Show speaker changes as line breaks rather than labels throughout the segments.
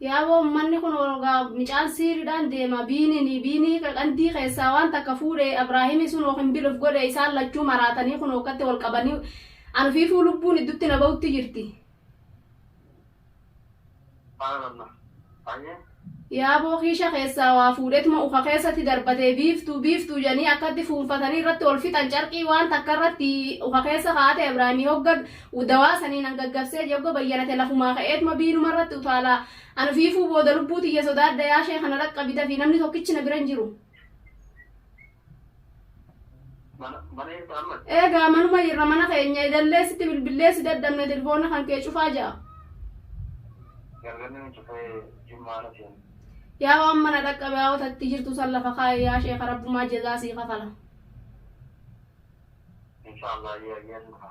Yaaboo ummanni kun orogaa micaan siiridhaan deema biinini biinii qandii keessaa waan takka fuudhe abraahimi sunoo kinbil of godhe isaan lachuu maraatanii kunoo akkatti wal qabanii an ufiifuu lubbuun iddutti na ba'utti jirti. Subhaanallah.
Hayyee. Yaaboo
kiisha keessaa waa fuudhetuma uka keessatti darbatee biiftuu biiftuu jedhanii akkatti fuunfatanii irratti wal fixan carqii waan takka irratti uka keessa kaa'ate abraahimi hogga Dawaa sanii nan gaggabsee yogga bayyanate lafumaa ka'eetuma biinuma irratti utaala. An ufiifuu booda lubbuu tiyya sodaadha yaa sheekha na dhaqqabi dafii namni tokkichi na bira hin jiru.
Mana mana jirta ammas? Eegaa manuma jirra
mana keenya idallee sitti bilbillee si dadhabne tilfoona kan kee cufaa ja'a. Galgalli
ni cufee jimmaa na seenu. Yaa waan mana
dhaqqabe haa otatti jirtu san lafa kaa'i yaa sheekha rabbumaa jazaa sii kafala. Inshallah ayyee
ayyee ni dhufa.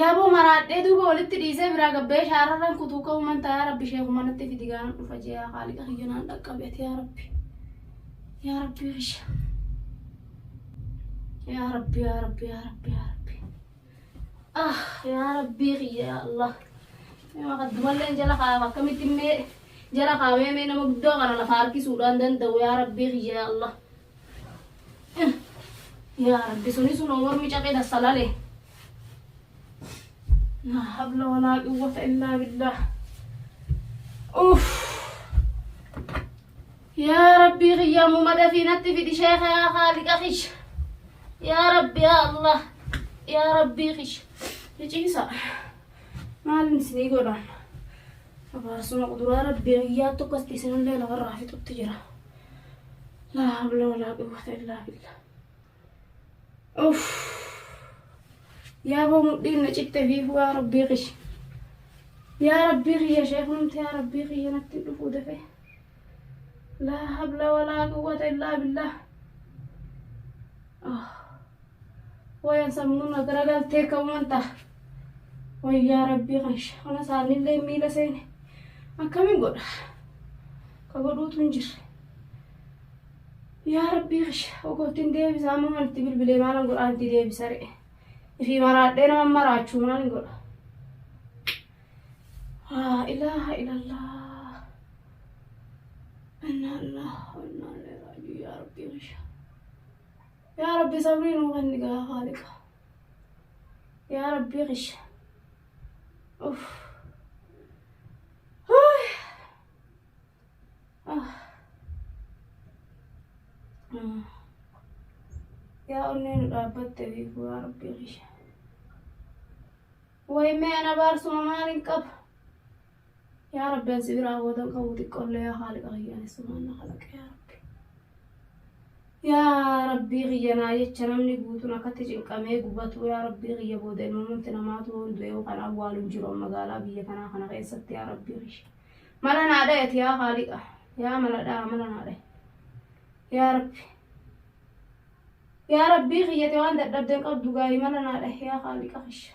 Yaboo maraadhee duuba walitti dhiisee biraa gabbee shaararran kutuu ka'uu man taa yaa rabbi sheekuma natti fidi gaana dhufa jee yaa kaaliqa kiyya naan dhaqqabi ati yaa rabbi yaa rabbi kiyya yaa rabbi yaa rabbi yaa rabbi yaa rabbi ah yaa rabbi kiyya yaa allah nama kaddumallee jala kaa'ama akkamitti mee jala kaa'amee mee nama guddoo kana lafa harkisuudhaan danda'u yaa rabbi kiyya yaa allah Yaa rabbi suni sun mormi cabee dassalale. Laa habla walaa quwwata illaa billah. Uff. Yaa rabbii kiyyaa muma dafii natti fidi sheeka yaa haaliqa kish. Yaa rabbi yaa Allah. Yaa rabbii kish. Hiciisa. Maalin isinii godhaan? Abaarsuma quduraa rabbii kiyyaa tokkotti isinillee lafarraa fixutti jira. laa hawla walaa quwwata illaa billah uff yaaboo mudhiin na citte fiifuu yaa rabbii kiyya yaa rabbii kiyya sheekumti yaa rabbii kiyya natti dhufuu dafee laa hawla walaa quwwata illaa billah oh. Wayan sammuu na gara galtee ka'uman ta'a. Wayyaa rabbii kan shaana isaanillee miila seene akkamiin godha? Ka godhuutu hin jirre. Yaa rabbii kasha ogoottiin deebisaa amma waan itti bilbilee maalan godhaa itti deebisa re'e. Ifii maraadhee nama maraachuu maalin godha? Haa ilaaha ilallah. Innaa ilaaha innaa ilaaha yaa rabbii kasha. Yaa Rabbi sabrii nuu kenni gaa haaliqa. Yaa Rabbi kisha. Uff. Huuy. Ah. Mm. Yaa onnee nu dhaabbatte beeku yaa Rabbi kisha. Way mee ana baarsuma maalin qaba? Yaa Rabbi an si biraa boodan qabu xiqqollee yaa haaliqa kiyya ani sumaan na kalaqe yaa Rabbi. Yaa Rabbii kiyya naa jecha namni guutuun akkatti cinqamee gubatuu yaa Rabbii kiyya booda ilmamumti namaatu yoon du'e yookaan awwaalu hin jiru magaalaa biyya tanaa kana keessatti yaa Rabbii kiyya. Mala naa dhayati yaa haaliqa yaa mala dhaa mala naa dhaye. Yaa Rabbi. Yaa Rabbii kiyyati waan dadhabden qabdu gaayi mala naa dhahe yaa haaliqa kiyya.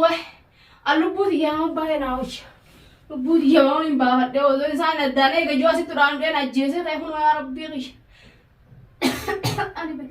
Wah! An lubbuu tiyyaa nama baay'ee naa wayya. Lubbuu tiyya waan hin baafadhee osoo isaan addaan eega ijoo asitti duraan dheen ajjeesee ta'e kunoo yaa rabbii kiyya. Ani be-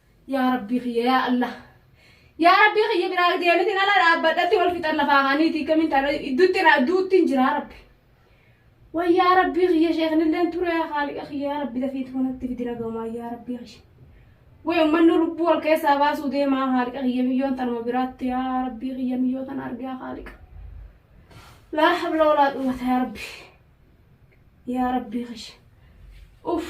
Yaa rabbii kiyya yaa Allah. Yaa rabbii kiyya biraa deemitiin ala dhaabbadhatti wal fixan lafaa kaaniitii kamiin taana idduutti irraa duuttiin jiraa rabbi. Way yaa rabbii kiyya sheeknilleen ture yaa haaliqa kiyya yaa rabbi dafiitu kanatti fidi nagamaa yaa rabbii kiyya. Way ummanni lubbuu wal keessaa baasuu deemaa haaliqa kiyya miyyoon tanuma biraatti yaa rabbii kiyya miyyoo tana argaa haaliqa. Laa habla walaa quwwata yaa rabbi. Yaa rabbii kiyya. Uff.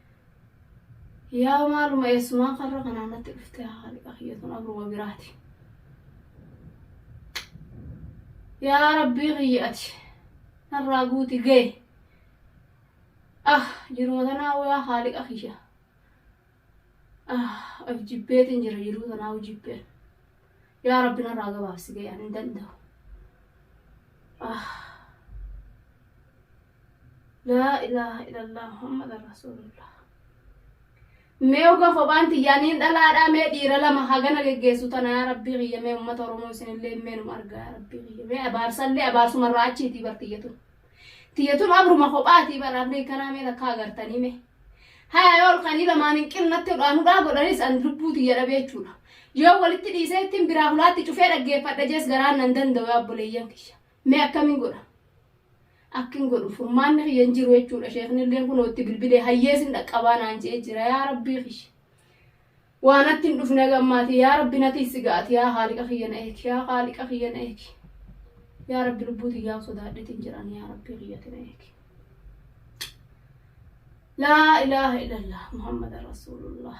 Yaa maaluma eessumaa karra kanaan natti dhuftee haaliqa kiyya tun abruma biraati. Yaa rabbii kiyya ati narraa guuti ga'e. Ah jiruma tanaa yaa haaliqa kiyya. Ah of jibbeetiin jira jiruu tanaa jibbeen. Yaa rabbi narraa gabaabsi ga'e ani hin danda'u. Ah. Laa ilaaha ilallaa Muhammad Rasuulullah. Mee oga kophaan tiyyaa niin dhalaadhaa mee dhiira lama hagana geggeessu tana yaa rabbii kiyya mee ummata Oromoo isinillee mee num argaa yaa rabbii kiyya mee abaarsallee abaarsuma irraa achiitii bar tiyyatun. Tiyyatun abruma kophaatii bar abrii kanaa mee takka agartanii mee. Haya yoo olkanii lamaan hin qinnatti hudhaan hudhaa godhanis an lubbuu tiyya dhabee jechuudha. Yoo walitti dhiisee ittiin biraa hulaatti cufee dhaggeeffadha jees garaan nan danda'u yaa obboleeyyan kiyya. Mee akkamin godha? Akki hin godhu furmaanni kiyya hin jiru jechuudha sheeknilleen kunoo itti bilbilee hayyee sin dhaqqabaa naan je'ee jira yaa rabbii kiyya. Waa natti hin dhufne haga ammaatii yaa rabbi natii si ga'ati yaa haaliqa kiyya na eegi yaa haaliqa kiyya na eegi. Yaa rabbi lubbuu tiyyaa sodaadheetiin jiraan yaa rabbii kiyyati na eegi. Laa ilaaha illallah Muhammad Rasuulullah.